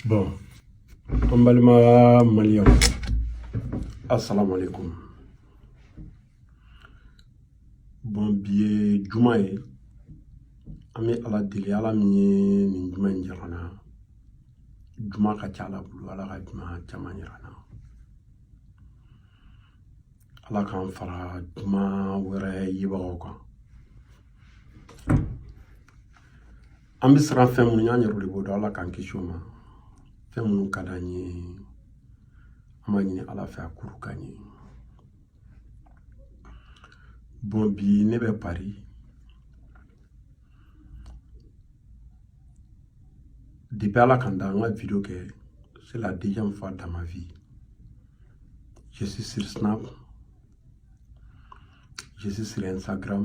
bon an balima maliyɛnw asalaamaaleykum bon bi ye juma ye an bɛ ala deli ala min ye nin juma in jira an na juma ka ca ala bolo ala ka juma caman jira an na ala k'an fara juma wɛrɛ yebagaw kan An bɛ siran fɛn minnu ɲɛ an yɛrɛ de b'o dɔn ala k'an kisi o ma fɛn minnu ka d'an ye an b'a ɲini ala fɛ a k'olu k'an ye bon bi ne bɛ pari depuis ala ka n da an ka video kɛ c'est la deuxième fois dans ma vie je suis sur snap je suis sur instagram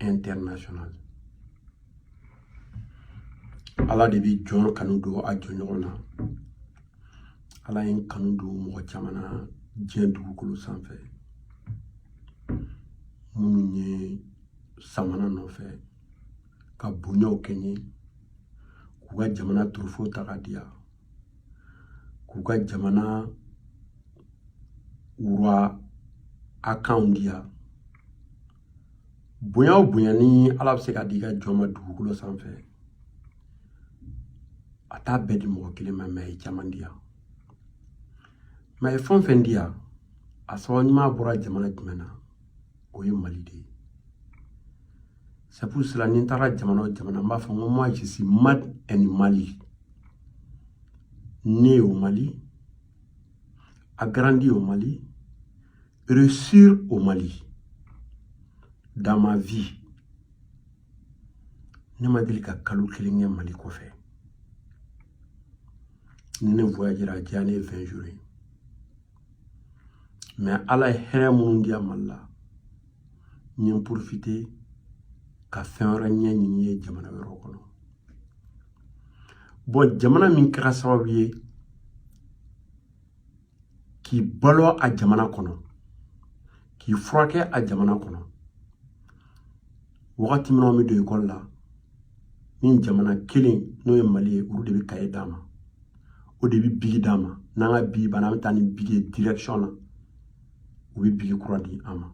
international ala de bɛ jɔn kanu don a jɔn ɲɔgɔn na ala ye n kanu don mɔgɔ caman na diɲɛ dugukolo sanfɛ minnu ye sama n nɔfɛ ka bonyaw kɛ n ye k'u ka jamana trophée ta ka di yan k'u ka jamana wura akanw di yan bonya o bonya ni ala bɛ se ka di i ka jɔn ma dugukolo sanfɛ a t'a bɛɛ di mɔgɔ kelen ma mais a ye caman di yan mais a ye fɛn o fɛn di yan a sababu ɲuman bɔra jamana jumɛn na o ye mali de ye c'est pour cela ni n taara jamana o jamana n b'a fɔ n ko moi je suis made in mali né au mali a grandi au mali Réussir au Mali, dans ma vie, ne ma deli ka kalo kelen kɛ Mali kɔfɛ. Ni ne voyagera a janyalen ye 20 jours ye. Mais Ala ye hɛrɛ minnu di yan Mali la, n ye n profiter ka fɛn wɛrɛ ɲɛɲini ye jamana wɛrɛw kɔnɔ. Bon jamana min kɛra sababu ye k'i balo a jamana kɔnɔ k'i furakɛ a jamana kɔnɔ wagati min na an bɛ don ekɔli la nin jamana kelen n'o ye mali ye olu de bɛ kaye d'an ma o de bɛ bigi d'an ma n'an ka bigi banna an bɛ taa ni bigi ye direction na u bɛ bigi kura di an ma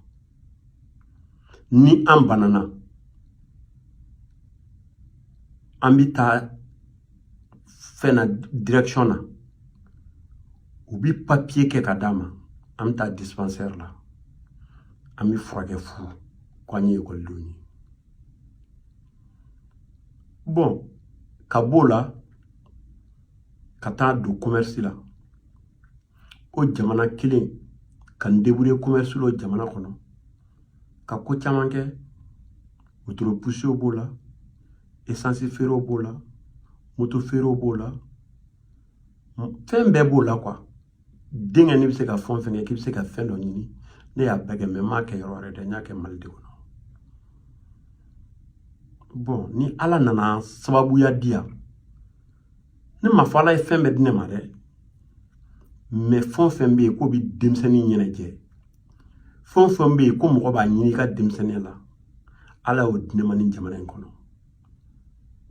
ni an banana an bɛ taa fɛn na direction na u bi papiye kɛ ka d'an ma an bɛ taa dispensaire la an bɛ furakɛ fu ko an ye ekɔlidenw ye bɔn ka b'o la ka taa don commerce la o jamana kelen ka n deburiye commerce la o jamana kɔnɔ ka ko caman kɛ wotoro pusew b'o la esansi feerew b'o la moto feerew b'o la fɛn bɛɛ b'o la quoi denkɛ n'i bɛ se ka fɛn fɛn kɛ k'i bɛ se ka fɛn dɔ ɲini ne y'a bɛɛ kɛ mɛ n m'a kɛ yɔrɔ wɛrɛ dɛ n y'a kɛ mali de kɔnɔ bɔn ni ala nana sababuya di yan ne m'a fɔ ala ye fɛn bɛɛ di ne ma dɛ mɛ fɛn o fɛn bɛ yen k'o bɛ denmisɛnnin ɲɛnajɛ fɛn o fɛn bɛ yen ko mɔgɔ b'a ɲini i ka denmisɛnninya la ala y'o di ne ma nin jamana in kɔnɔ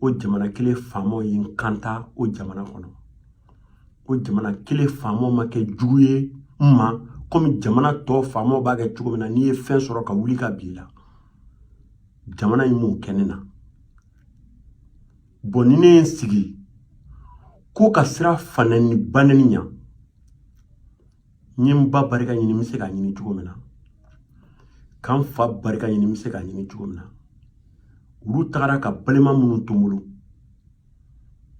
o jamana kelen faamaw ye n kanta o jamana kɔnɔ o jamana kelen faamaw ma kɛ jugu ye n ma komi jamana tɔ faamaw b'a kɛ cogo min na n'i ye fɛn sɔrɔ ka wuli k'a b'i la jamana in m'o kɛ ne na bɔn ni ne ye n sigi ko ka siran fanani banani ɲa n ye n ba barika ɲini n bɛ se k'a ɲini cogo min na ka n fa barika ɲini n bɛ se k'a ɲini cogo min na olu tagara ka balima minnu to n bolo n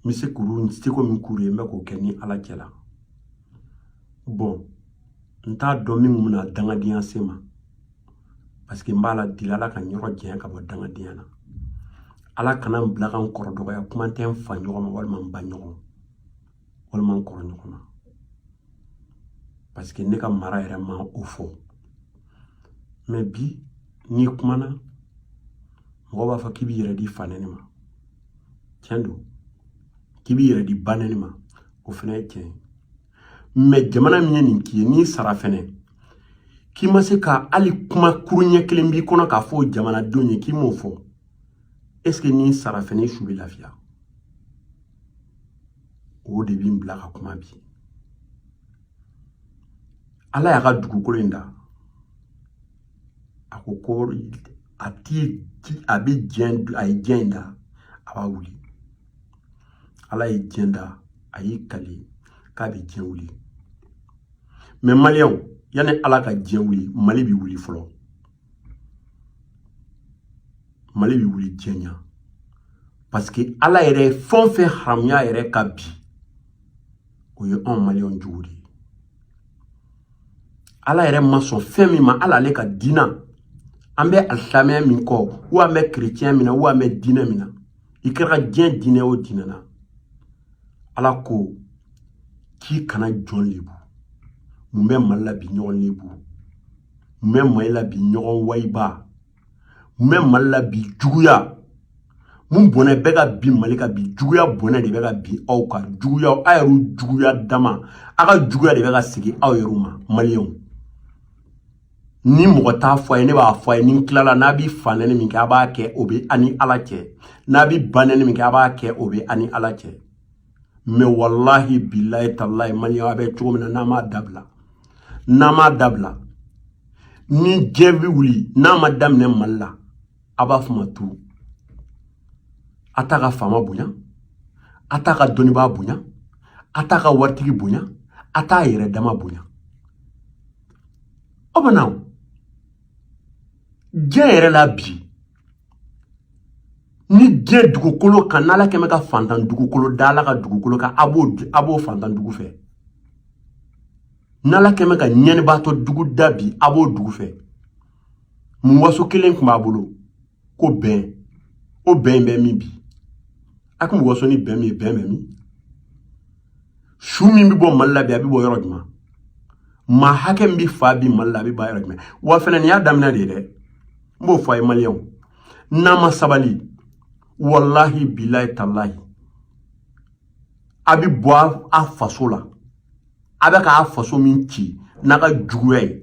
bɛ se k'olu n seko min k'olu ye n bɛ k'o kɛ ni ala cɛ la bɔn n t'a dɔn min kun bɛna dangadenya se n ma parce que n b'ala deli ala ka n yɔrɔ janya ka bɔ dangadenya na ala kana n bila ka n kɔrɔ dɔgɔya kuma tɛ n fa ɲɔgɔn ma walima n ba ɲɔgɔn walima n kɔrɔ ɲɔgɔn ma parce que ne ka mara yɛrɛ ma o fɔ mɛ bi n'i kumana mɔgɔ b'a fɔ k'i b'i yɛrɛ di fanɛni ma tiɲɛ don k'i b'i yɛrɛ di banɛni ma o fana ye tiɲɛ ye mɛ jamana min ye nin k'i ye n'i sara fɛnɛ k'i ma se ka hali kuma kuru ɲɛ kelen b'i kɔnɔ k'a fɔ jamanadenw ye k'i m'o fɔ est ce que n'i sara fɛnɛ i su bɛ lafiya o de bɛ n bila ka kuma bi ala y'a ka dugukolo in da a ko ko a ti a bɛ diɲɛ a ye diɲɛ in da a b'a wuli ala ye diɲɛ da a y'i kali k'a bɛ diɲɛ wuli mɛ maliyɛnw yanni ala ka diɲɛ wuli mali bɛ wuli fɔlɔ mali bɛ wuli diɲɛ ɲɛ parce que ala yɛrɛ ye fɛn o fɛn haramuya yɛrɛ kan bi o ye anw maliyɛnw jogo de ye ala yɛrɛ ma sɔn fɛn min ma ala ale ka diina an bɛ alisilamɛya min kɔ o an bɛ kerecɛn min na o an bɛ diinɛ min na i kɛra diɲɛ diinɛ o diinɛ na ala ko k'i kana jɔn lebu mun bɛ mali la bi ɲɔgɔn lebu mun bɛ mali la bi ɲɔgɔn wayiba mun bɛ mali la bi juguya mun bɔnɛ bɛ ka bin mali kan bi juguya bɔnɛ de bɛ ka bin aw kan juguya aw yɛrɛw juguya dama a ka juguya de bɛ ka segin aw yɛrɛw ma maliyɛnw ni mɔgɔ t'a fɔ a ye ne b'a fɔ a ye ni n tilala n'a bi fanɛni min kɛ a b'a kɛ o bɛ a ni ala cɛ n'a bi banɛni min kɛ a b'a kɛ o bɛ a ni ala cɛ mɛ walahi bilayi talayi maliyɛnya bɛ cogo min na n'a m'a dabila n'a m'a dabila ni diɲɛ bɛ wuli n'a ma daminɛ mali la a b'a fɔ ma tu a t'a ka faama bonya a t'a ka dɔnnibaa bonya a t'a ka waritigi bonya a t'a yɛrɛ dama bonya Aw bɛ na diɲɛ yɛrɛ la bi nin diɲɛ dugukolo kan n'ala kɛmɛ ka fantan dugukolo da ala ka dugukolo kan a b'o a b'o fantan dugu fɛ n'ala kɛmɛ ka ɲɛnibaatɔ dugu da bi a b'o dugu fɛ mun waso kelen tun b'a bolo ko bɛn o bɛn in bɛ min bi a kun mɔgɔ sɔn ni bɛn min ye bɛn bɛ min su min bɛ bɔ mali la bi a bɛ bɔ yɔrɔ jumɛn maa hakɛ min bɛ fa bi mali la a bɛ fa yɔrɔ jumɛn wa fana nin y'a daminɛ de ye dɛ n b'o fɔ a ye maliyɛnw n'a ma sabali walahi bilayi talayi a bɛ bɔ a faso la a bɛ k'a faso min ci n'a ka juguya ye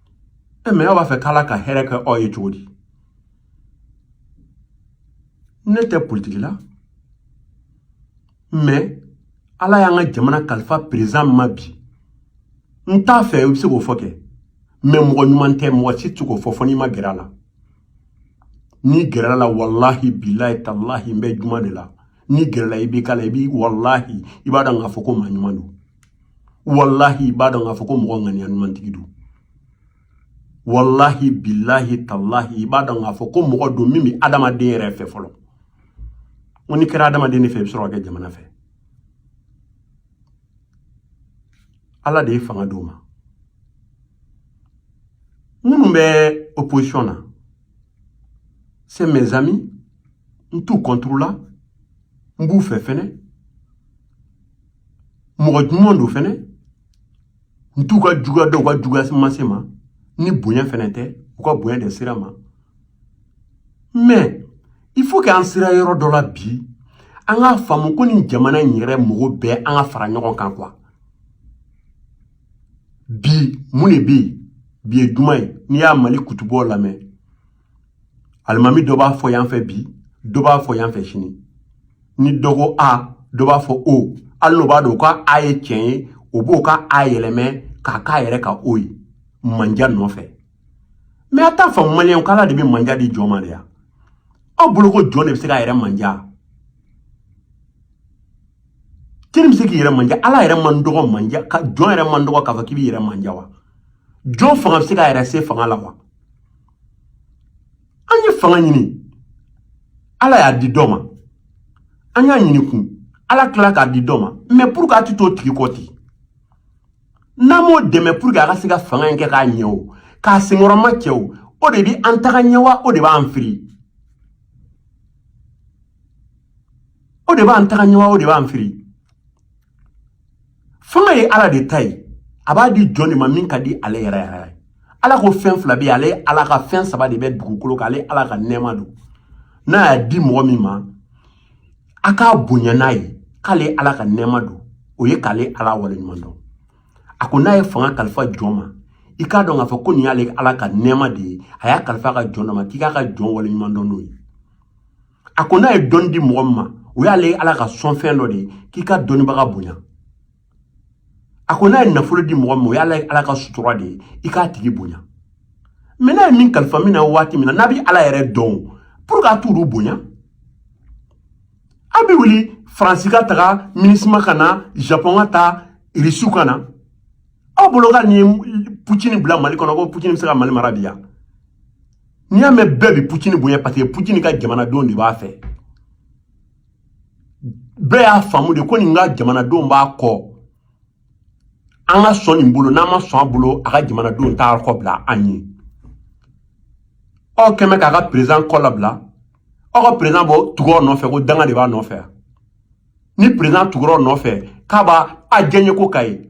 e mɛ aw b'a fɛ k'ala ka hɛrɛ kɛ aw ye cogo di ne tɛ politiki la mɛ ala y'an ka jamana kalifa perezidan ma bi n t'a fɛ i bɛ se k'o fɔ kɛ mɛ mɔgɔ ɲuman tɛ mɔgɔ si tɛ k'o fɔ fo n'i ma gɛrɛ a la n'i gɛrɛla a la walahi bilahi talahi n bɛ juma de la n'i gɛrɛla i b'i k'a la i b'i walahi i b'a dɔn k'a fɔ ko maa ɲuman don walahi i b'a dɔn k'a fɔ ko mɔgɔ ŋaniya ɲumantigi don walahi bilahi talahi i b'a dɔn k'a fɔ ko mɔgɔ don min bɛ adamaden yɛrɛ fɛ fɔlɔ ko n'i kɛra adamaden de fɛ i bɛ sɔrɔ ka kɛ jamana fɛ ala de ye fanga d'o ma minnu bɛ opposition na c'est mes amis n t'u contre la n b'u fɛ fɛnɛ mɔgɔ ɲuman don fɛnɛ n t'u ka juguya dɔn u ka juguya ma se n ma ni bonya fɛnɛ tɛ u ka bonya de sera n ma mɛ il faut que an sera yɔrɔ dɔ la bi an k'a faamu ko nin jamana in yɛrɛ mɔgɔ bɛɛ an ka fara ɲɔgɔn kan quoi bi mun de bɛ yen bi ye juma ye n'i y'a mali kutubaw lamɛn alimami dɔ b'a fɔ yan fɛ bi dɔ b'a fɔ yan fɛ sini ni dɔ ko a dɔ b'a fɔ o hali n'o b'a dɔn ko a ye tiɲɛ ye o b'o ka a yɛlɛmɛ k'a k'a yɛrɛ ka o ye manja nɔfɛ mɛ a t'a faamu maliyɛnw k'ala de bɛ manja di jɔn ma de ya aw bolo ko jɔn de bɛ se k'a yɛrɛ manja k'i bɛ se k'i yɛrɛ manja ala yɛrɛ man dɔgɔ manja ka jɔn yɛrɛ man dɔgɔ k'a fɔ k'i b'i yɛrɛ manja wa jɔn fanga bɛ se k'a yɛrɛ se fanga la wa an ye fanga ɲini ala y'a di dɔ ma an y'a ɲini kun ala tila k'a di dɔ ma mɛ pour que a ti t'o tigi kɔ ten n'an m'o dɛmɛ pour que a ka se ka fanga in kɛ k'a ɲɛ o k'a senkɔrɔmacɛ o o de bi an taga ɲɛ wa o de b'an firi o de b'an taga ɲɛ wa o de b'an firi fanga ye ala de ta ye a b'a di jɔn de ma min ka di ale yɛrɛ yɛrɛ ye ala ko fɛn fila bɛ yen ale ala ka fɛn saba de bɛ dugukolo kan ale ala ka nɛɛma don n'a y'a di mɔgɔ min ma a k'a bonya n'a ye k'ale ala ka nɛɛma don o ye k'ale ala waleɲuman dɔn a ko n'a ye fanga kalifa jɔn ma i k'a dɔn k'a fɔ ko nin y'ale ala ka nɛɛma de ye a y'a kalifa a ka jɔn dɔ ma k'i k'a ka jɔn waleɲuman dɔn n'o ye a ko n'a ye dɔnni di mɔgɔ min ma o y'ale ala ka sɔnfɛn dɔ de ye k'i ka dɔnnibaga bonya a ko n'a ye nafolo di mɔgɔ min ma o y'ale ala ka sutura de ye i k'a tigi bonya mɛ n'a ye min kalifa min na waati min na n'a bɛ ala yɛrɛ dɔn pour que a t'olu bonya an bɛ wuli faransi ka taga minusima ka na japɔn ka taa irisiw ka na aw bolo ko ni putini bila mali kɔnɔ ko putini bɛ se ka mali mara bi yan n'i y'a mɛn bɛɛ bi pucini bonya paseke pucini ka jamanadenw de b'a fɛ bɛɛ y'a faamu de ko nin ka jamanadenw b'a kɔ an ka sɔn nin bolo n'an ma sɔn a bolo a ka jamanadenw t'a kɔ bila an ye aw kɛmɛ k'a ka perezan kɔ labila aw ka perezan bɔ tugɔrɔ nɔfɛ ko danga de b'a nɔfɛ ni perezan tugɔrɔ nɔfɛ k'a b'a a jɛɲeko ka ye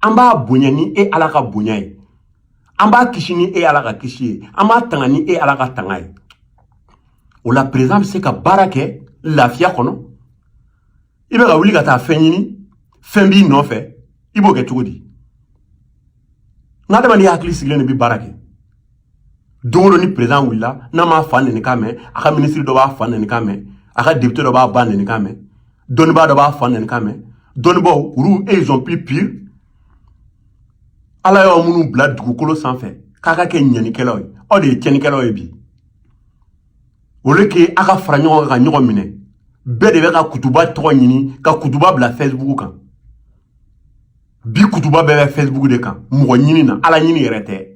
an b'a bonya ni e ala ka bonya ye an b'a kisi ni e ala ka kisi ye an b'a tanga ni e ala ka tanga ye o la perezan bɛ se ka baara kɛ lafiya kɔnɔ i bɛ ka wuli ka taa fɛn ɲini fɛn b'i nɔfɛ i b'o kɛ cogo di nka adamaden hakili sigilen de bɛ baara kɛ don o don ni perezan wulila n'a m'a fa nɛni kan mɛn a ka minisiri dɔ b'a fa nɛni kan mɛn a ka depite dɔ b'a ba nɛni kan mɛn dɔnnibaa dɔ b'a fa nɛni kan mɛn dɔnnibaaw olu ils sont plus pires ala y'aw minnu bila dugukolo sanfɛ k'a ka kɛ ɲɛnikɛlaw ye aw de ye tiɲɛnikɛlaw ye bi au lieu que a ka fara ɲɔgɔn kan ka ɲɔgɔn minɛ bɛɛ de bɛ ka kutuba tɔgɔ ɲini ka kutuba bila facebook kan bi kutuba bɛɛ bɛ facebook de kan mɔgɔ ɲini na ala ɲini yɛrɛ tɛ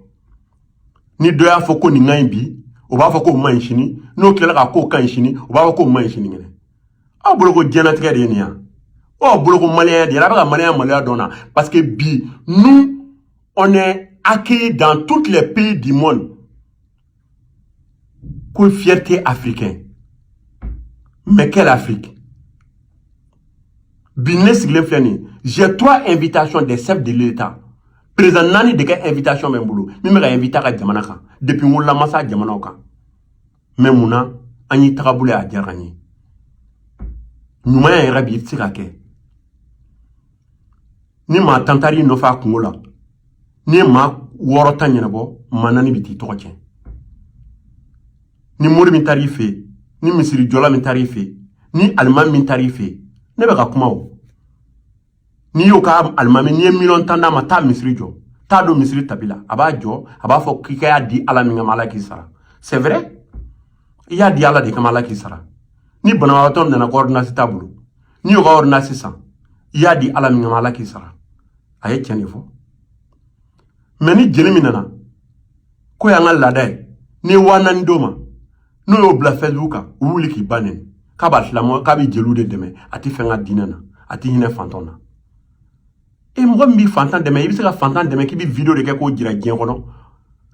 ni dɔ y'a fɔ ko nin ka ɲi bi o b'a fɔ k'o man ɲi sini n'o tilala k'a k'o ka ɲi sini o b'a fɔ k'o man ɲi sinikɛnɛ aw bolo ko diɲɛlatigɛ de ye nin ye aw bolo ko maliyɛnya de ye a bɛ ka maliyɛnya maloya dɔn na parce que bi nous on est accueillis dans toutes les pays du monde ko fierté africain mais quelle Afrique bi ne sigilen filɛ nin ye j'ai trois invitations des chefs de l'État président naani de ka invitation bɛ n bolo min bɛ ka inviter a ka jamana kan depuis n wolola n ma s'a jamanaw kan mɛ mun na an y'i tagabolo ye a diyara an ye ɲumanya yɛrɛ bi tɛ se ka kɛ ni maa tan taar'i nɔfɛ a kunko la n'i ye maa wɔɔrɔ ta ɲɛnabɔ maa naani bɛ t'i tɔgɔ tiɲɛ ni mori min taar'i fɛ yen ni misirijɔla min taar'i fɛ yen ni aliman min taar'i fɛ yen ne bɛ ka kuma o n'i y'o ka alimami n'i ye miliyɔn tan d'a ma taa misiri jɔ t'a don misiri tapi la a b'a jɔ a b'a fɔ k'i ka y'a di ala min kama ala k'i sara c'est vrai i y'a di ala de kama ala k'i sara ni banabagatɔ nana ko ordonnance t'a bolo n'i y'o ka ordonnance san i y'a di ala min kama ala k'i sara a ye tiɲɛ de fɔ mɛ ni jeli min nana k'o y'an ka laada ye n'i ye waa naani d'o ma n'o y'o bila fɛsibuku kan u wuli k'i ba neni k'a b'a silamɛ k'a bɛ jeliw de dɛmɛ a tɛ fɛn kɛ diinɛ na a tɛ hinɛ fantanw na e mɔgɔ min b'i fantan dɛmɛ i bɛ se ka fantan dɛmɛ k'i bɛ video de kɛ k'o jira diɲɛ kɔnɔ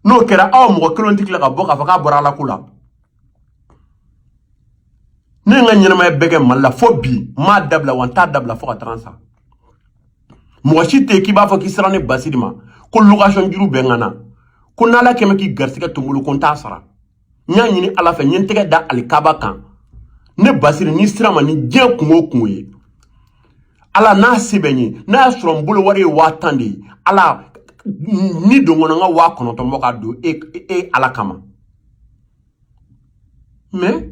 n'o kɛra aw mɔgɔ kelen tɛ tila ka bɔ k'a fɔ k'a bɔra ala ko la ne ye n ka ɲɛnamaya bɛɛ kɛ mali la fo bi n m'a dabila wa n t'a dabila fo ka taga n sa mɔgɔ si tɛ yen k'i b'a fɔ k'i sera ne basiri ma ko location juru bɛ n kan na ko n'ala kɛmɛ k'i garisigɛ to n bolo ko n t'a sara n y'a ɲini ala fɛ n ye n tɛgɛ da alikaba kan ne basiri n'i sera n ma ni diɲɛ kun o kun ye ala n'a se bɛ n ye n'a y'a sɔrɔ n bolo wari ye waa tan de ye ala n'a don n kɔnɔ n ka waa kɔnɔntɔn bɔ ka don e, e, e ala kama mɛ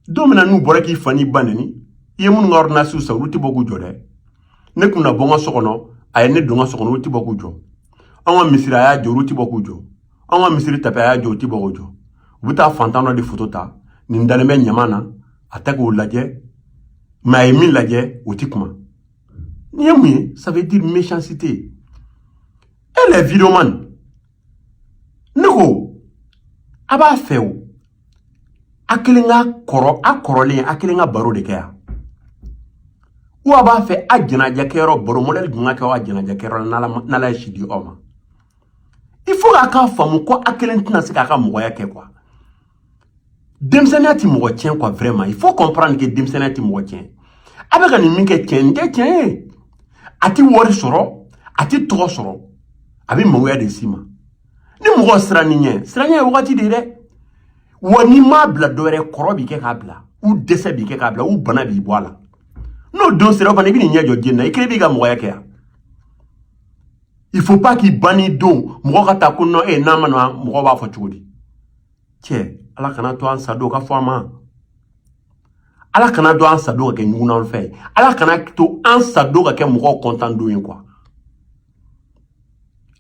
don min na n'u bɔra k'i fa n'i ba neni i ye minnu ka ɔridinasiw san olu tɛ bɔ k'u jɔ dɛ ne kun na bɔ n ka so kɔnɔ a ye ne don n ka so kɔnɔ olu tɛ bɔ k'u jɔ an ka misiri a y'a jɔ olu tɛ bɔ k'u jɔ an ka misiri tapi a y'a jɔ u tɛ bɔ k'u jɔ u bɛ taa fantan dɔ de foto ta nin dalen bɛ ɲaman na a tɛ k'o lajɛ mɛ a ye min lajɛ u tɛ kuma nin ye mun ye ça veut dire méchanceté e le videoman ne ko a b'a fɛ o a kelen ka kɔrɔ a kɔrɔlen a kelen ka baro de kɛ yan ou a b'a fɛ a ɲɛnajɛ kɛyɔrɔ baro modɛli jumɛn ka kɛ aw ka ɲɛnajɛ kɛyɔrɔ la n'ala ye si di aw ma il faut k'a k'a faamu ko a kelen tɛna se k'a ka mɔgɔya kɛ quoi denmisɛnninya tɛ mɔgɔ tiɲɛ quoi vraiment il faut comprendre que denmisɛnninya tɛ mɔgɔ tiɲɛ a bɛ ka nin min kɛ tiɲɛ nin tɛ tiɲɛ ye a tɛ wari sɔrɔ a tɛ tɔgɔ sɔrɔ a bɛ mangoya de s'i ma ni mɔgɔ sirann'i ɲɛ siranɲɛ ye wagati de ye dɛ wa n'i m'a bila dɔ wɛrɛ kɔrɔ b'i kɛ k'a bila ou dɛsɛ b'i kɛ k'a bila ou bana b'i bɔ a la n'o don sera o fana i bɛ n'i ɲɛ jɔ diɲɛ na i kelen b'i ka mɔgɔya kɛ yan il faut pas k'i banni don mɔgɔ ka ta ko nɔ e n'a ma na mɔgɔ b'a fɔ cogo di cɛ ala kana to an sadon ka fɔ an ma ala kana to an sadon ka kɛ ɲugunan fɛ ye ala kana to an sadon ka kɛ mɔgɔw kontan don ye quoi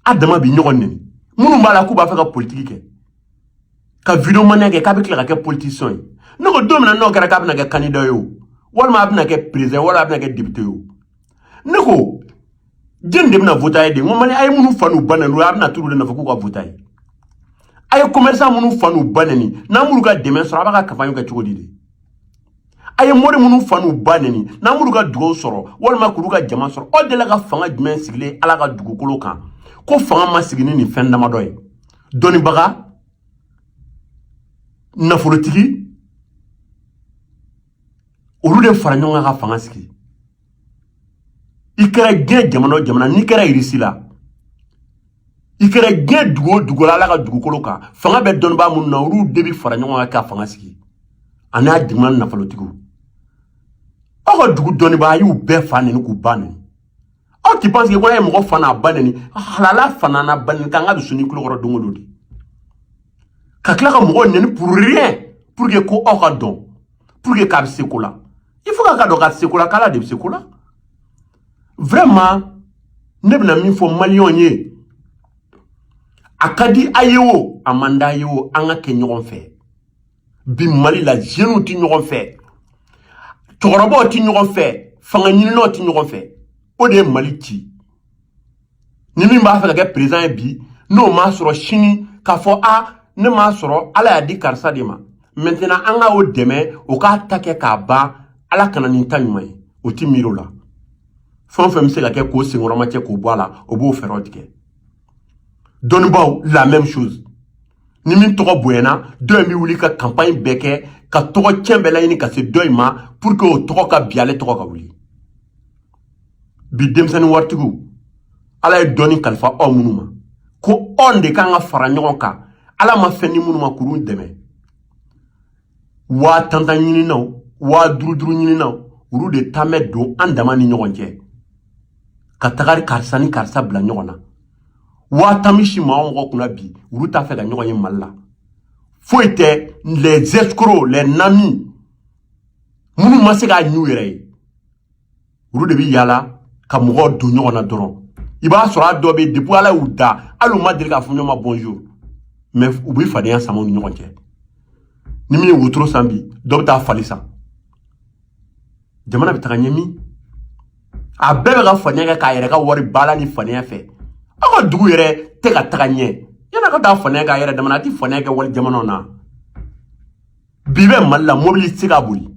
a dama bi ɲɔgɔn neni minnu b'a la k'u b'a fɛ ka politiki kɛ ka videomanya kɛ k'a bɛ tila ka kɛ politisiyɛn ye ne ko don min na n'o kɛra k'a bɛna kɛ kandida ye o walima a bɛna kɛ perezan walima a bɛna kɛ depite ye o ne ko jɔni de bɛna vot'a ye dɛ ko mali a ye minnu fa n'u ba neni a bɛna t'olu de nɔfɛ k'u ka vot'a ye a ye commerçant minnu fa n'u ba neni n'a m'olu ka dɛmɛ sɔrɔ a b'a ka kanpaɲi kɛ cogo di dɛ a ye mori minnu fa n'u ba neni n'a m'olu ka dugawu sɔrɔ walima k'olu ka jama sɔrɔ aw delila ka fanga jumɛn sigilen ala ka dugukolo kan ko fanga ma sigi ni nin fɛn damadɔ ye dɔnnibaga nafolotigi olu de fara ɲɔgɔn kan ka fanga sigi i kɛra diɲɛ jamana o jamana n'i kɛra irisi la i kɛra diɲɛ dugu o dugu la ala ka dugukolo kan fanga bɛ dɔnnibaa minnu na olu de bɛ fara ɲɔgɔn kan ka fanga sigi ani a duguma nafolotigiw aw ka dugu dɔnnibaa a y'u bɛɛ fa neni k'u ba neni aw ti panse ko n'a ye mɔgɔ fa n'a ba neni halala fa n'a ba neni kan ka dusuni kulo kɔrɔ don o don de ka tila ka mɔgɔw neni pour rien pour que ko aw k'a dɔn pour que k'a bɛ se ko la il faut k'a k'a dɔn k'a tɛ se ko la k'ala de bɛ se ko la vraiment ne bɛna min fɔ maliyɛnw ye a ka di a ye o a man d'a ye o an ka kɛ ɲɔgɔn fɛ bi mali la jeunes tɛ ɲɔgɔn fɛ cɛkɔrɔbaw tɛ ɲɔgɔn fɛ fanga ɲininaw tɛ ɲɔgɔn fɛ o de ye mali ci ni min b'a fɛ ka kɛ perezan ye bi n'o m'a sɔrɔ sini k'a fɔ a ne m'a sɔrɔ ala y'a di karisa de ma maintenant an ka o dɛmɛ o k'a ta kɛ k'a ban ala ka na ni n ta ɲuman ye o ti miiri o la fɛn o fɛn bɛ se ka kɛ k'o senkɔrɔmacɛ k'o bɔ a la o b'o fɛɛrɛw tigɛ dɔnnibaaw la même chose ni min tɔgɔ bonyana dɔ in bɛ wuli ka kanpaɲi bɛɛ kɛ ka tɔgɔ cɛn bɛɛ laɲini ka se dɔ in ma pour que o tɔgɔ ka bin ale tɔgɔ ka wuli bi denmisɛnnin waritigiw ala ye dɔɔni kalifa aw minnu ma ko anw de kan ka fara ɲɔgɔn kan ala ma fɛn di minnu ma k'olu dɛmɛ waa tantan ɲininnaw waa duruduru ɲininnaw olu de tan bɛ don an dama ni ɲɔgɔn cɛ ka taga karisa ni karisa bila ɲɔgɔn na waa tan misi maa mɔgɔ kunna bi olu t'a fɛ ka ɲɔgɔn ye mali la foyi tɛ les escrocs les nami minnu ma se ka ɲɛ u yɛrɛ ye olu de bɛ yaala ka mɔgɔw don ɲɔgɔn na dɔrɔn i b'a sɔrɔ a dɔ bɛ depuis ala y'u da hali u ma deli k'a fɔ ɲɔgɔn ma bonjour mais u bɛ fadenya sama u ni ɲɔgɔn cɛ ni min ye wotoro san bi dɔ bɛ taa fali san jamana bɛ taga ɲɛ min a bɛɛ bɛ ka faniya kɛ k'a yɛrɛ ka wari baala ni faniya fɛ aw ka dugu yɛrɛ tɛ ka taga ɲɛ yann'a ka taa faniya k'a yɛrɛ dama na a tɛ faniya kɛ wali jamanaw na bi i bɛ mali la mobili tɛ se ka boli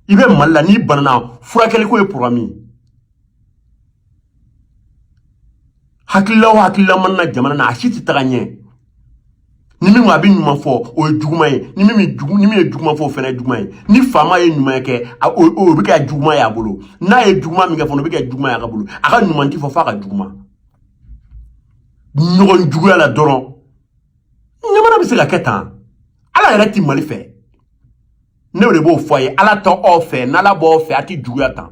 i bɛ mali la n'i banana furakɛliko ye poroblɛmu ye hakilila o hakilila mana na jamana na a si tɛ taga ɲɛ ni min a bɛ ɲuman fɔ o ye juguman ye ni min jugu ni min ye juguman fɔ o fana ye juguman ye ni faama ye ɲuman kɛ a o o bɛ kɛ juguman ye a bolo n'a ye juguman min kɛ fana o bɛ kɛ juguman ye a ka bolo a ka ɲuman ti fɔ f'a ka juguman ɲɔgɔn juguya la dɔrɔn jamana bɛ se ka kɛ tan ala yɛrɛ ti mali fɛ ne de b'o fɔ a ye ala t'aw fɛ n'ala b'aw fɛ a ti juguya tan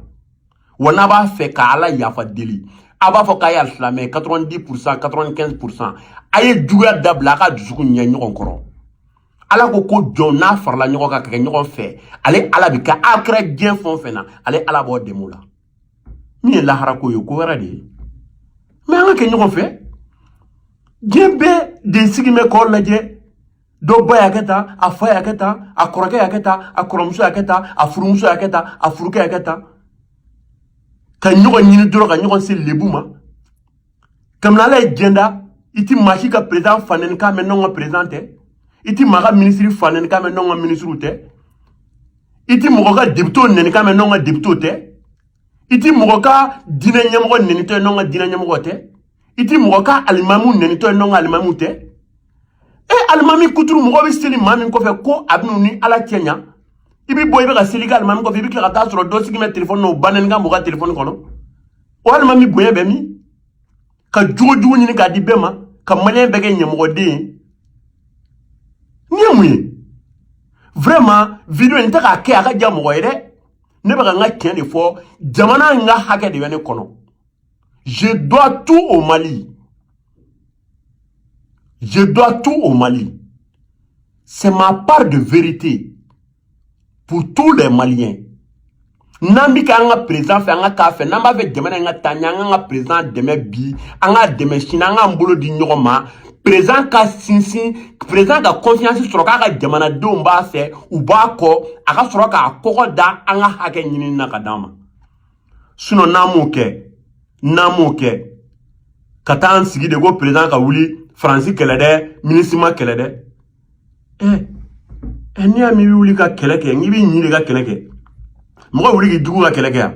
wa n'a b'a fɛ ka ala yafa deli a b'a fɔ k'a ye alisilamɛ 90 pourcent 95 pourcent a ye juguya dabila a ka dusukun ɲɛ ɲɔgɔn kɔrɔ ala ko ko jɔn n'a farala ɲɔgɔn kan ka kɛ ɲɔgɔn fɛ ale ala bi kɛ a kɛra diɲɛ fɛn o fɛn na ale ala b'o dɛmɛ o la min ye lahara ko ye ko wɛrɛ de ye mais an ka kɛ ɲɔgɔn fɛ diɲɛ bɛɛ de sigilen bɛ k'aw lajɛ dɔ ba y'a kɛ tan a fa y'a kɛ tan a kɔrɔkɛ y'a kɛ tan a kɔrɔmuso y'a kɛ tan a furumuso y'a kɛ tan a furukɛ y'a kɛ tan ka ɲɔgɔn ɲini dɔrɔn ka ɲɔgɔn se lebu ma kamini ala ye diɲɛ da i ti maa si ka président fa nɛni k'a mɛn n'anw ka président tɛ i ti maa ka minisiri fa nɛni k'a mɛn n'anw ka minisiriw tɛ i ti mɔgɔ ka depitew nɛni k'a mɛn n'anw ka depitew tɛ i ti mɔgɔ ka diinɛ ɲɛmɔgɔ nɛnitɔ ye n'anw ka diinɛ ɲɛmɔgɔ tɛ i ti mɔgɔ ka alimamu nɛnitɔ ye n'anw ka alimamu tɛ e alimami kuturu mɔgɔ bɛ seli maa min kɔfɛ ko a bɛn'u ni ala cɛ ɲa i bɛ bɔ i bɛ ka seli kɛ alimami kɔfɛ i bɛ tila ka taa sɔrɔ dɔ sigilen bɛ telefɔni na o ba nɛni ka mɔgɔ ka telefɔni kɔnɔ o alimami bonya bɛ min ka jogo jugu ɲini k'a di bɛɛ ma ka maliyɛn bɛɛ kɛ ɲamɔgɔden ye nin ye mun ye vraiment vidéo in n tɛ k'a kɛ a ka diya mɔgɔ ye dɛ ne bɛ ka n ka tiɲɛ de fɔ jamana in ka hakɛ de bɛ ne kɔnɔ je dois tout au mali je dois tout au mali c'est ma part de vérité pour tous les maliens n'an bɛ kɛ an ka perezan fɛ an ka k'a fɛ n'an b'a fɛ jamana in ka taa ɲɛ an k'an ka perezan dɛmɛ bi an k'a dɛmɛ sini an k'an bolo di ɲɔgɔn ma perezan ka sinsin perezan ka confiance sɔrɔ k'a ka jamanadenw b'a fɛ u b'a kɔ a ka sɔrɔ k'a kɔgɔ da an ka hakɛ ɲinini na ka d'an ma sinɔn n'an m'o kɛ n'an m'o kɛ ka taa an sigi de ko perezan ka wuli faransi kɛlɛ dɛ minisima kɛlɛ dɛ ɛ ɛ n'i y'a mɛn i bɛ wuli ka kɛlɛ kɛ n'i b'i ɲin de ka kɛlɛ kɛ mɔgɔ wuli k'i jugu ka kɛlɛ kɛ yan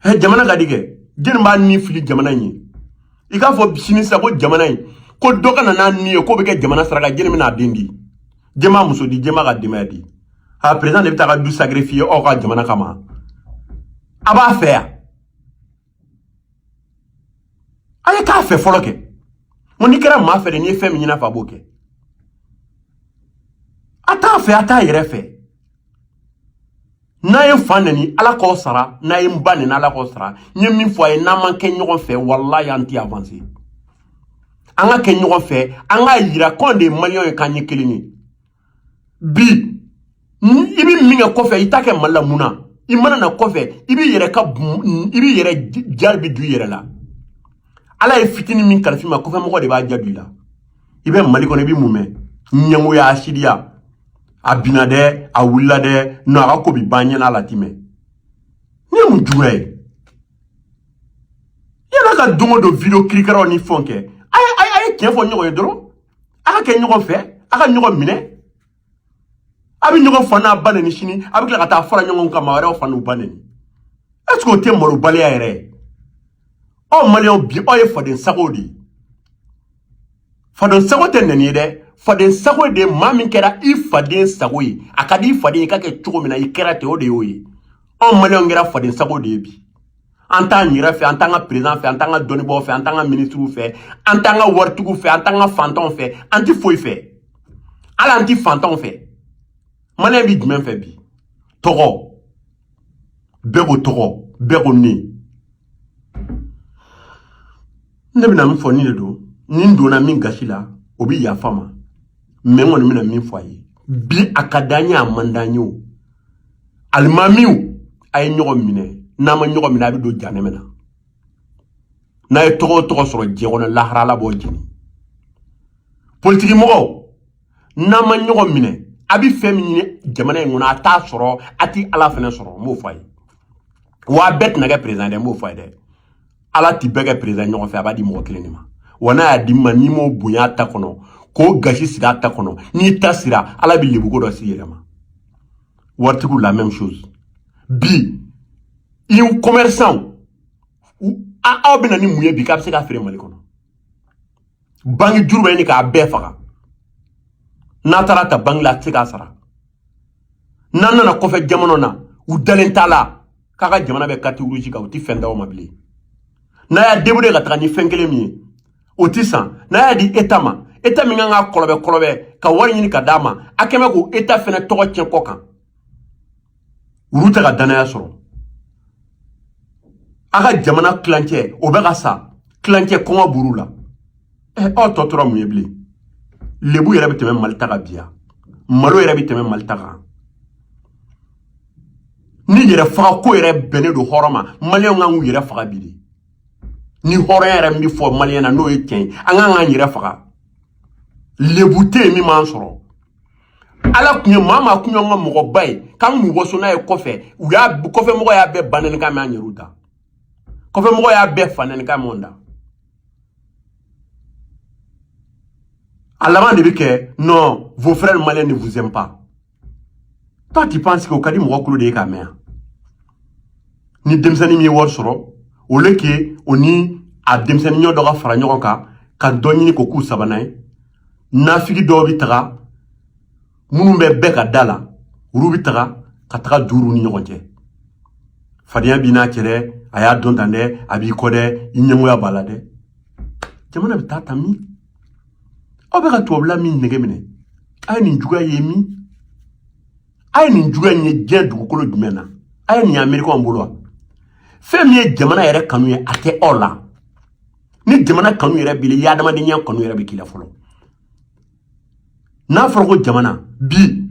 ɛ jamana ka di kɛ jɛni b'a ni fili jamana in ye i k'a fɔ sini sisan ko jamana in ko dɔ ka na n'a ni ye k'o bɛ kɛ jamana saraka jɛni bɛna a den di jɛn b'a muso di jɛn b'a ka denbaya di a perezan de bɛ t'a ka du sacrifier aw ka jamana kama a b'a fɛ yan a ye k'a fɛ fɔlɔ kɛ n n'i kɛra maa fɛ de n'i ye fɛn min ɲin'a fɛ a b'o kɛ a t'a fɛ a t'a yɛrɛ fɛ n'a ye n fa nɛni ala k'aw sara n'a ye n ba nɛni ala k'aw sara n ye min fɔ a ye n'an ma kɛ ɲɔgɔn fɛ walayi an tɛ avanse an ka kɛ ɲɔgɔn fɛ an k'a yira k'anw de ye maliyɛnw ye k'an ye kelen ye bi i bɛ min kɛ kɔfɛ i t'a kɛ mali la mun na i mana na kɔfɛ i b'i yɛrɛ ka i b'i yɛrɛ jarabi don i yɛrɛ la ala ye fitini min kalif'i ma kɔfɛ mɔgɔ de b'a jaabi la i bɛ mali kɔnɔ i bɛ mun mɛn ɲɛngoya hasidiya a binna dɛ a wulila dɛ nɔ a ka ko bi ban ɲinan a la ti mɛn nin ye mun juguya ye yala ka don o don video kirikaraw ni fɛnw kɛ a ye a ye tiɲɛ fɔ ɲɔgɔn ye dɔrɔn a ka kɛ ɲɔgɔn fɛ a ka ɲɔgɔn minɛ a bɛ ɲɔgɔn fa n'a ba nɛni sini a bɛ tila ka taa fara ɲɔgɔn kan maa wɛrɛw fa n'u ba nɛni est ce que o tɛ malobaliya yɛrɛ ye aw maliyɛnw bi aw ye faden sagow de ye faden sago tɛ nɛni ye dɛ faden sago de maa min kɛra i faden sago ye a ka di i faden ye i ka kɛ cogo min na i kɛra ten o de y'o ye anw maliyɛnw kɛra faden sago de ye bi an t'an yɛrɛ fɛ an t'an ka perezan fɛ an t'an ka dɔnnibaw fɛ an t'an ka minisiriw fɛ an t'an ka waritigiw fɛ an t'an ka fantanw fɛ an ti foyi fɛ hali an ti fantanw fɛ maliyɛn bi jumɛn fɛ bi tɔgɔ bɛɛ ko tɔgɔ bɛɛ ko ne ne bɛna min fɔ nin de don ni n donna min gasi la o bɛ yafa n ma mɛ n kɔni bɛna min fɔ a ye bi a ka d'a ye a man d'a ye o alimamiw a ye ɲɔgɔn minɛ n'a ma ɲɔgɔn minɛ a bɛ don jahanama na n'a ye tɔgɔ o tɔgɔ sɔrɔ diɲɛ kɔnɔ lahara ala b'aw jeni politiki mɔgɔw n'a ma ɲɔgɔn minɛ a bɛ fɛn min ɲini jamana in kɔnɔ a t'a sɔrɔ a tɛ ala fana sɔrɔ n b'o fɔ a ye wa a bɛɛ tɛna kɛ perezan dɛ n b'o fɔ a ye dɛ ala ti bɛɛ kɛ peresidan ɲɔgɔn fɛ a b'a di mɔgɔ kelen de ma wa n'a y'a di min ma n'i m'o bonya ta kɔnɔ k'o gasi sigi a ta kɔnɔ n'i ta sera ala bɛ lebuko dɔ s'i yɛrɛ ma waritigiw la même chose bi in commerçants aw bɛ na ni mun ye bi k'a bɛ se ka feere mali kɔnɔ banki juru bɛ ɲini k'a bɛɛ faga n'a taara ta banki la a tɛ se k'a sara n'an nana kɔfɛ jamana na u dalen t'a la k'a ka jamana bɛ carte rouge kan u tɛ fɛn d'aw ma bilen n'a y'a débrouiller ka taga ni fɛn kelen min ye o tɛ san n'a y'a di eta ma eta min kan ka kɔlɔbɛ kɔlɔbɛ ka wari ɲini ka d'a ma a kɛ mɛ k'o eta fɛnɛ tɔgɔ tiɲɛ kɔkan olu tɛ ka dannaya sɔrɔ a ka jamana tilancɛ o bɛ ka sa tilancɛ kɔngɔ b'olu la ɛ aw tɔ tora mun ye bilen lebu yɛrɛ bɛ tɛmɛ mali ta kan bi wa malo yɛrɛ bɛ tɛmɛ mali ta kan ni yɛrɛ faga ko yɛrɛ bɛnnen don hɔrɔn ma maliyɛnw kan k'u yɛrɛ faga bi de ni hɔrɔnya yɛrɛ min fɔ maliyɛn na n'o ye tiɲɛ ye an kan k'an yɛrɛ faga lebu tɛ yen min m'an sɔrɔ ala tun ye maa maa kun y'an ka mɔgɔba ye k'an kun waso n'a ye kɔfɛ u y'a kɔfɛmɔgɔ y'a bɛɛ banɛni kan mɛn an yɛrɛw da kɔfɛmɔgɔ y'a bɛɛ fanɛni kan mɛn da A laban de bɛ kɛ non vos frères maliens ne vous aiment pas toi tu penses que o ka di mɔgɔ tulo de ye k'a mɛn yan ni denmisɛnnin min ye wari sɔrɔ au lieu que o ni a denmisɛnnin ɲɔgɔn dɔ ka fara ɲɔgɔn kan ka dɔ ɲini k'o k'u sabanan ye nafigi dɔw bɛ taga minnu bɛ bɛɛ ka da la olu bɛ taga ka taga don olu ni ɲɔgɔn cɛ fadenya b'i n'a cɛ dɛ a y'a dɔn tan dɛ a b'i kɔ dɛ i ɲɛngoya b'a la dɛ jamana bɛ taa tan min aw bɛ ka tubabula min nege minɛ a ye nin juguya ye min a ye nin juguya in ye diɲɛ dugukolo jumɛn na a ye nin ye amerikɛnw bolo wa fɛn min ye jamana yɛrɛ kanu ye a tɛ aw la ni jamana kanu yɛrɛ b'i la i ye adamadenya kanu yɛrɛ bɛ k'i la fɔlɔ n'a fɔra ko jamana bi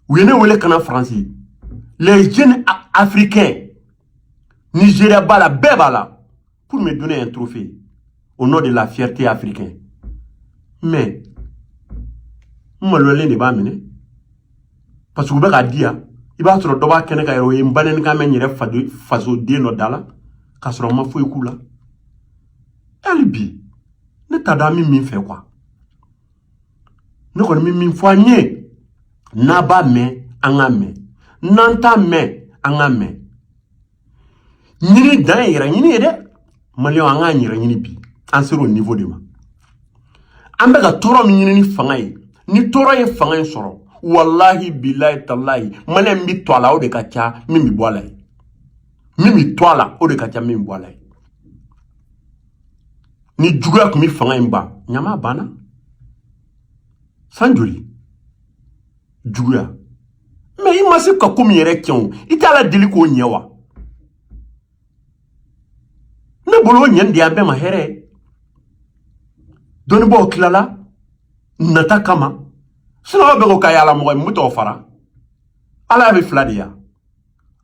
u ye ne wele ka na faransi les jeunes africains nigeria b'a la bɛɛ b'a la pour me donner un trophée au nom de la fierté africaine mais n maloyalen de b'a minɛ parce que u bɛ k'a di yan i b'a sɔrɔ dɔ b'a kɛnɛ kan yɛrɛ o ye n banɛnikan mɛn n yɛrɛ fasoden dɔ da la k'a sɔrɔ n ma foyi k'u la hali bi ne t'a dɔn an bɛ min fɛ quoi ne kɔni bɛ min fɔ an ye n'an b'a mɛn an k'a mɛn n'an t'a mɛn an k'a mɛn ɲini dan ye yɛrɛ ɲini ye dɛ maliyɛnw an k'an yɛrɛ ɲini bi an sera o niveau de ma an bɛ ka tɔɔrɔ min ɲini ni fanga ye ni tɔɔrɔ ye fanga in sɔrɔ walahi bilayi talayi maliyɛn min bɛ to a la o de ka ca min bɛ bɔ a la ye min bɛ to a la o de ka ca min bɛ bɔ a la ye ni juguya tun bɛ fanga in ban ɲama banna san joli juguya mais i ma se ka ko min yɛrɛ kɛ o i t'ala deli k'o ɲɛ wa ne bolo o ɲɛni de y'an bɛɛ ma hɛrɛ ye dɔnnibaaw tilala nata kama sinon mɔgɔ bɛɛ ko k'a y'ala mɔgɔ ye n bɛ tɔgɔ fara ala y'a bɛ fila de yan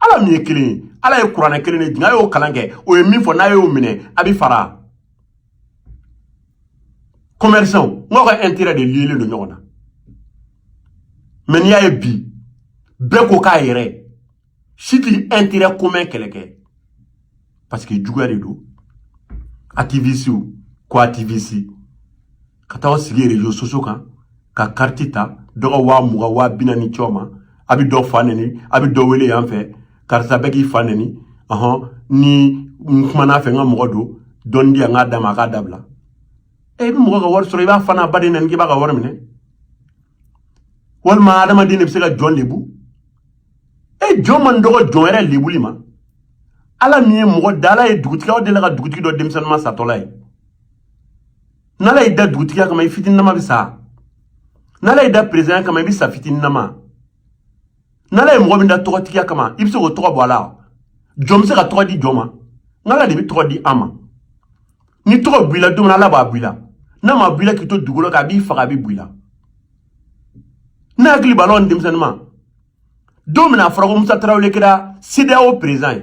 ala min ye kelen ye ala ye kuranɛ kelen de jigin a y'o kalan kɛ o ye min fɔ n'a y'o minɛ a bɛ fara commerçant n'aw ka intérêt de lielen don ɲɔgɔn na mais n'i y'a ye bi bɛɛ ko k'a yɛrɛ si tɛ intérêt commun kɛlɛ kɛ parce que juguya de don activiste ko activiste ka taa aw sigi réseaux sociaux kan ka kariti ta dɔ ka waa mugan waa bi naani c'aw ma a bɛ dɔ fa nɛni a bɛ dɔ wele yan fɛ karisa bɛ k'i fa nɛni ɔhɔn ni n kuman'a fɛ n ka mɔgɔ don dɔɔni di yan n k'a d'a ma a k'a dabila e i bɛ mɔgɔ ka wari sɔrɔ i b'a fa n'a ba de nɛni k'i b'a ka wari minɛ walima adamaden de bɛ se ka jɔn lebu e jɔn man dɔgɔ jɔn yɛrɛ lebuli ma ala min ye mɔgɔ da ala ye dugutigi aw delila ka dugutigi dɔ denmisɛnninma satɔla ye n'ala y'i da dugutigiya kama i fitininama bɛ sa n'ala y'i da perezidanya kama i bɛ sa fitininama n'ala ye mɔgɔ min da tɔgɔtigiya kama i bɛ se k'o tɔgɔ bɔ a la jɔn bɛ se ka tɔgɔ di jɔn ma nk'ala de bɛ tɔgɔ di an ma ni tɔgɔ b'i la don min ala b'a b'i la n'a m'a b'i la k'i to dugukolo kan a b'i faga a bɛ b'i la ne hakili b'a la denmisɛnninma don min na a fɔra ko musa tarawele kɛra cedeao perezidan ye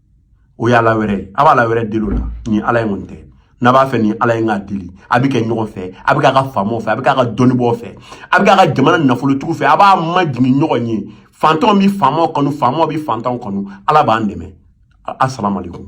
o ye ala wɛrɛ ye a b'ala wɛrɛ deli o la ni ala ye nɔntɛ n'a b'a fɛ ni ala ye k'a deli a bɛ kɛ ɲɔgɔn fɛ a bɛ k'a ka faamaw fɛ a bɛ k'a ka dɔnnibaaw fɛ a bɛ k'a ka jamana nafolotigiw fɛ a b'a majigin ɲɔgɔn ye fantanw bɛ faamaw kanu faamaw bɛ fantanw kanu ala b'an dɛmɛ asalaamaaleykum